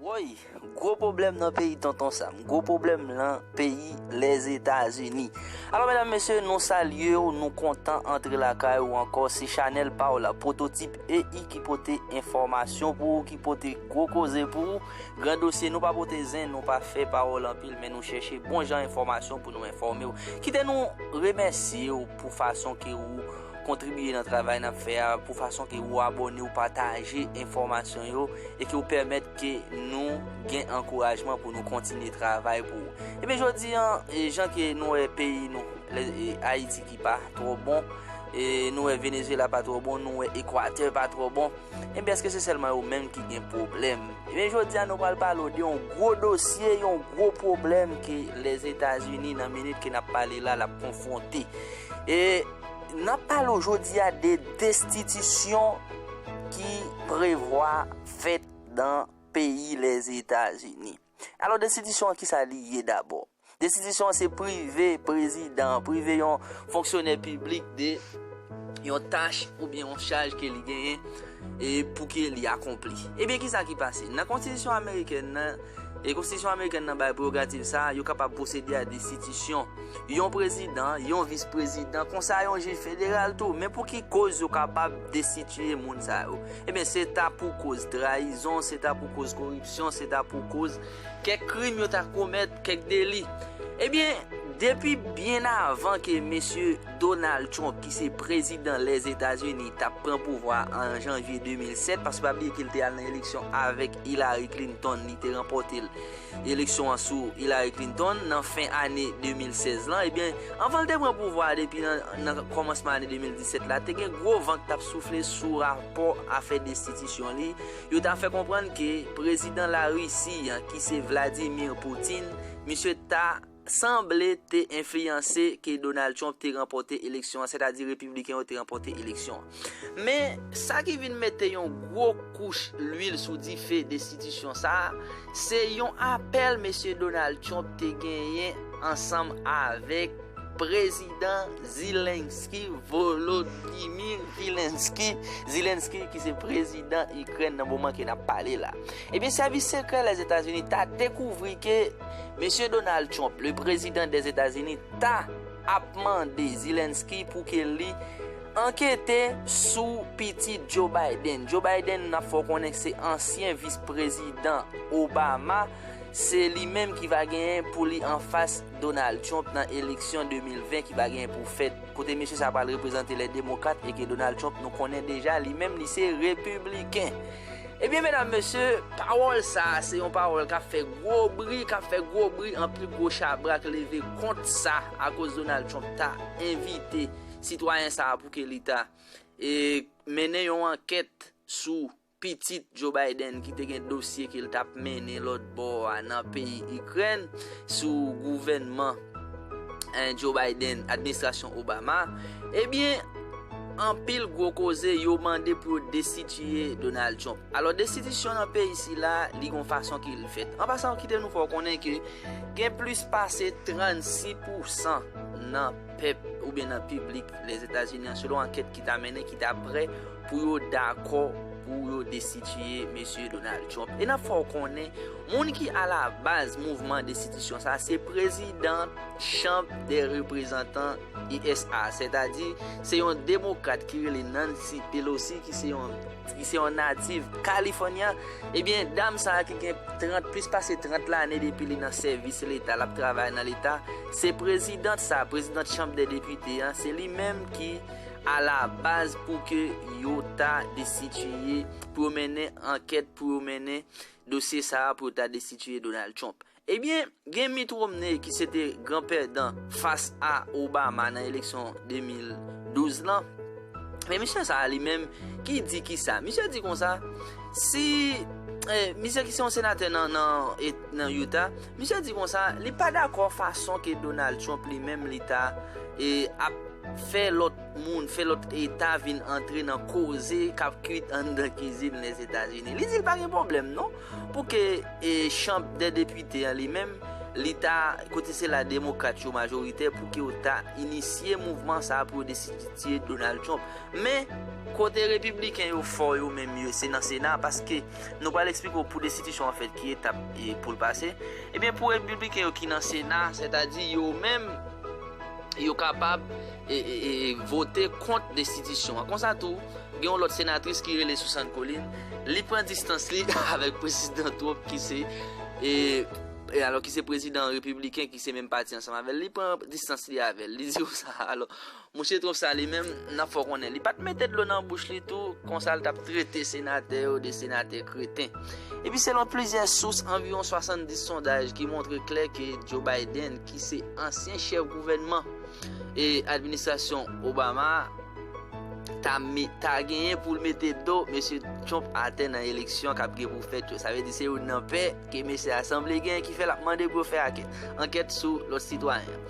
Woy! Gwo pwoblèm nan peyi Tonton Sam. Gwo pwoblèm lan peyi Lèzetazini. Alò medam mesye nou salye w nou kontan antre lakay ou ankò se chanèl pa w la Pwototip EI ki pote enfòmasyon pou ou ki pote gwo koze pou ou gran dosye nou pa pote zen nou pa fè pawòl anpil men nou chèche bon jan enfòmasyon pou nou enfòme w kite nou remèsye w pou fason ke ou kontribiye nan travay nap fè a, pou fason ke ou abòne, ou pataje enfòmasyon yo, e ke ou pèmèt ke nou gen ankourajman pou nou kontinye travay pou ou. Ebyen jodi an, jan ke nou wè peyi nou, Ayiti ki pa twò bon, nou wè Venezuela pa twò bon, nou wè Equateur pa twò bon, Ebyen eske se sèlman yo menm ki gen pwoblèm? Ebyen jodi a nou pral pale w de yon gwo dosye, yon gwo pwoblèm ke Lèzetazini nan minit ke nap pale la lap konfwonte. E nap pale w jodi a de destitisyon ki prevwa fèt nan peyi Lèzetazini. Alò destitisyon an kisa li ye dabò? Destitisyon an se prive prezidan an, prive yon fonksyonè piblik de yon tach oubyen yon chaj ke li genyen e pou ke li akonpli. Ebyen kisa ki pase? Nan konstitisyon amerikèn nan, e konstitisyon amerikèn nan bay prerogativ sa a, yo kapab pwosede a destitisyon yon prezidan, yon vis prezidan, konsa yon jij federal tou. Men pou ki koz yo kapab destitiye moun sa yo? Ebyen se ta pou koz trayizon, se ta pou koz koripsyon, se ta pou koz. Kèk krim yo ta komèt, kèk deli. Ebyen, depi byen avan ke Mesye Donald Trump ki se prezidan Lèzetazini tap pran pouvwa an Janvye 2007, paske pa bliye ke li te al nan eleksyon avèk Hillary Clinton, li te ranpòte eleksyon an sou Hillary Clinton nan fen ane 2016 lan, ebyen, anvan li te pran pouvwa a depi nan kòmansman ane 2017 la, te gen gwo van ki tap soufle sou rapò afè destitisyon li. Yo ta fè konprann ke prezidan Larisi an ki se Vladimir Putin, misye ta sanble te enfliyanse ke Donald Trump te ranpòte eleksyon an, sètadi Repibliken yo te ranpòte eleksyon an. Men, sa ki vin mete yon gwo kouch lwil sou dife destitisyon sa a, se yon apèl Mesye Donald Trump te genyen ansanm avèk. Prezidan Zelensky Volodymyr Zelensky Zelensky ki se prezidan Ikrèn nan moman ke n ap pale la. Ebyen sèvis sekrè Lèzetazini ta dekouvri ke Mesye Donald Trump, le prezidan dè Etazini ta ap mande Zelensky pou ke li ankete sou pitit Joe Biden. Joe Biden n ap fè w konnen se ansyen vis prezidan Obama, se li menm ki va genyen pou li anfas. Donald Trump nan eleksyon 2020 ki va genyen pou fèt, kote mesye sa pral reprezante lè demokrat e ke Donald Trump nou konnen deja li menm li se repibliken. Ebyen medam mesye, pawòl sa a se yon pawòl kap fè gwo bri, kap fè gwo bri anpil gwo chabrak leve kont sa akoz Donald Trump ta envite sitwayen sa a pou ke li ta e mennen yon ankèt sou Pitit Joe Biden ki te gen dosye ke l t ap mennen lòt bò a nan peyi Ikrèn sou gouvènman Joe Biden, administrasyon Obama, ebyen anpil gwo koze yo mande pou yo destitiye Donald Trump. Alò destitisyon nan peyi sila li gon fason ke l fèt. An pasan kite nou fè w konnen ke gen plis pase 36 pousan nan. pèp oubyen nan piblik Lèzetazini an selon ankèt ki ta mennen ki ta prè pou yo dakò pou yo destitiye Mesye Donald Trump. E n ap fè w konnen moun ki alabaz mouvman destitisyon sa se prezidan Chanb dè Reprezantan usa a sètadi se yon demokrat ki rele Nancy Pelosi ki se yon Li se yon natif California. Ebyen dam sa ki gen 30 plis pase 30 lane depi li nan sèvis leta lap travay nan leta se prezidant sa prezidant chanb dè depite an se li menm ki a la baz pou ke yo ta destitiye pou yo mennen ankèt pou yo mennen dosye sa pou yo ta destitiye Donald Trump Ebyen, gen Mitt Romney ki se te gran pèdan fas a Obama nan eleksyon 2012 lan. Men misye sa a li menm ki di ki sa? Misye di konsa, si, misye ki se yon senatè nan Utah, misye di konsa, li pa dakò fason ke Donald Trump li menm li ta ap fè lòt moun, fè lòt eta vin antre nan koze kap kwit anndan kizin Lèzetazini. Li di li pa gen pwoblèm non. Pou ke chanb dè depite an li menm, li ta, kote se la demokrat yo majoritè, pou ke yo ta inisye mouvman sa a pou yo destititye Donald Trump. Men. Kote repibliken yo fò yo menm yo, se nan sena, paske nou pral eksplike w pou destitisyon an fèt ki etap pou l pase. Ebyen pou repibliken yo ki nan sena, sètadi yo menm, yo kapab vote kont destitisyon an. Konsa tou, gen yon lòt senatris ki rele Susan Collins. Li pran distans li avèk Prezidan Trump ki se e alò ki se prezidan repibliken ki se menm pati ansanm avèl li pran distans li avèl li di ou sa alò mouche Trump sa li menm nan fò konnen li pat mete dlo nan bouch li tou konsa li tap trete senatè yo de senatè kreten epi selon plizyè sous anviwon 70 sondaj ki montre klè ke Joe Biden ki se ansyen chèf gouvènman e administrasyon Obama ta genyen pou l mete do mesye Trump atè nan eleksyon kap gen pou fèt yo. Sa vle di se youn nan pè ke mesye a sanble gen ki fè lap mande pou yo fè ankèt sou lòt sitwayen.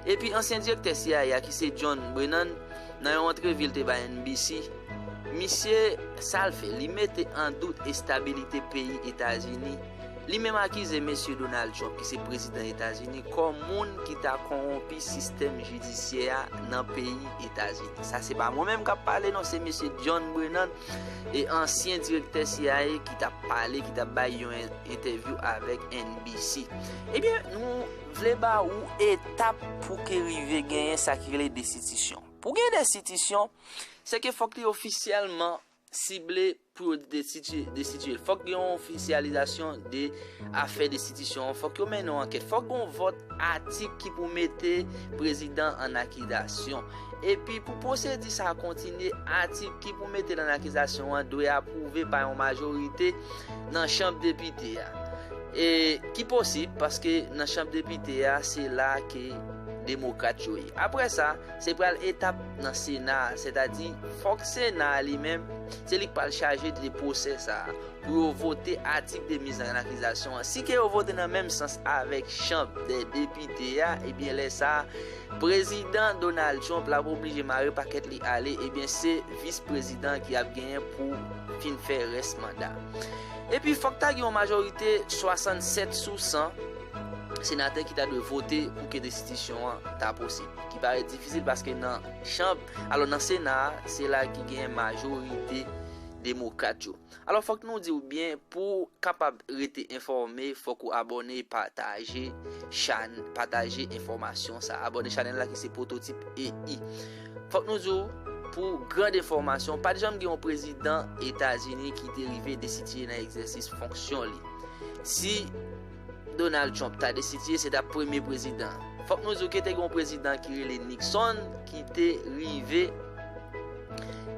Epi ansyen direktè cia a ki se John Brennan nan yon antrevi l te bay NBC, misye sa l fè li mete an dout estabilite peyi Etazini. Li menm akize Mesye Donald Trump ki se prezidan Etazini kòm moun ki ta konwonpi sistèm jidisyè a nan peyi Etazini. Sa se pa mwen menm kap pale non, se Mesye John Brennan, e ansyen direktè cia ki tap pale, ki tap bay yon entèvyou avèk NBC. Ebyen, nou vle ba ou etap pou ke rive genyen sa ki rele destitisyon. Pou gen destitisyon, se ke fòk li ofisyèlman sible pou yo destitye fòk gen yon ofisyalizasyon de afè destitisyon an fòk yo mennen yon ankèt fòk gen yon vòt atik ki pou mete prezidan an akizasyon epi pou pwosedi sa kontinye atik ki pou mete l an akizasyon an dwe apwouve pa yon majorite nan chanm depite a e ki posib paske nan chanm depite a se la ke demokrat yo ye apre sa. Se pral etap nan sena a, sètadi fòk sena a li menm, se li k pral chaje de pwosè sa a, pou yo vote atik de miz an akizasyon an. Si ke yo vote nan menm sans avèk chanb dè depite a, ebyen lè sa a, Prezidan Donald Trump l ap oblije mare pakèt li ale, ebyen se vis prezidan an ki ap genyen pou fin fè rès manda. Epi fòk ta gen yon majorite 67 sou 100 senatè ki ta dwe vote pou ke destitisyon an ta posib. ki parèt difisil paske nan chanb alò nan sena a se la ki genyen majorite demokrat yo alò fòk nou diw byen pou kapab rete enfòme fòk ou abòne pataje chan pataje enfòmasyon sa abòne chanèl la ki se pwototip EI fòk nou diw pou grand enfòmasyon pat janm gen yon prezidan etazini ki te rive desitiye nan egzèsis fonksyon li si Donald Trump ta destitiye se ta premye prezidan. Fòk nou di w ke te gen yon prezidan ki rele Nixon ki te rive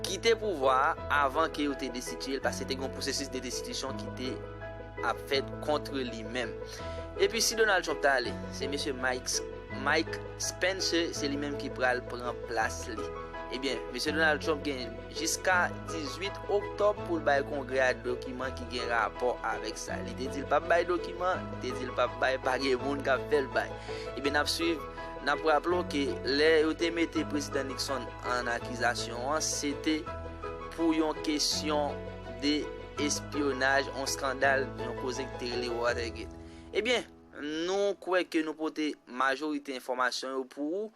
kite pouvwa a avan ke yo te destitiye l paske te gen yon pwosesis de destitisyon ki te ap fèt kontre li menm. Epi si Donald Trump ta ale, se mesye Mike Spencer se li menm ki pral pran plas li. Ebyen, mesye Donald Trump gen. jiska 18 oktòb pou l bay Kongrè a dokiman ki gen rapò avèk sa. Li te di l pap bay dokiman, li te di l pap bay, pa gen moun k ap fè l bay. Ebyen n ap swiv, n ap raple w ke lè yo te mete Prezidan Nixon an akizasyon an, se te pou yon kesyon de espyonaj, yon skandal, yon koze ki te rele Watergate. Ebyen, nou kwè ke nou pote majorite enfòmasyon yo pou ou.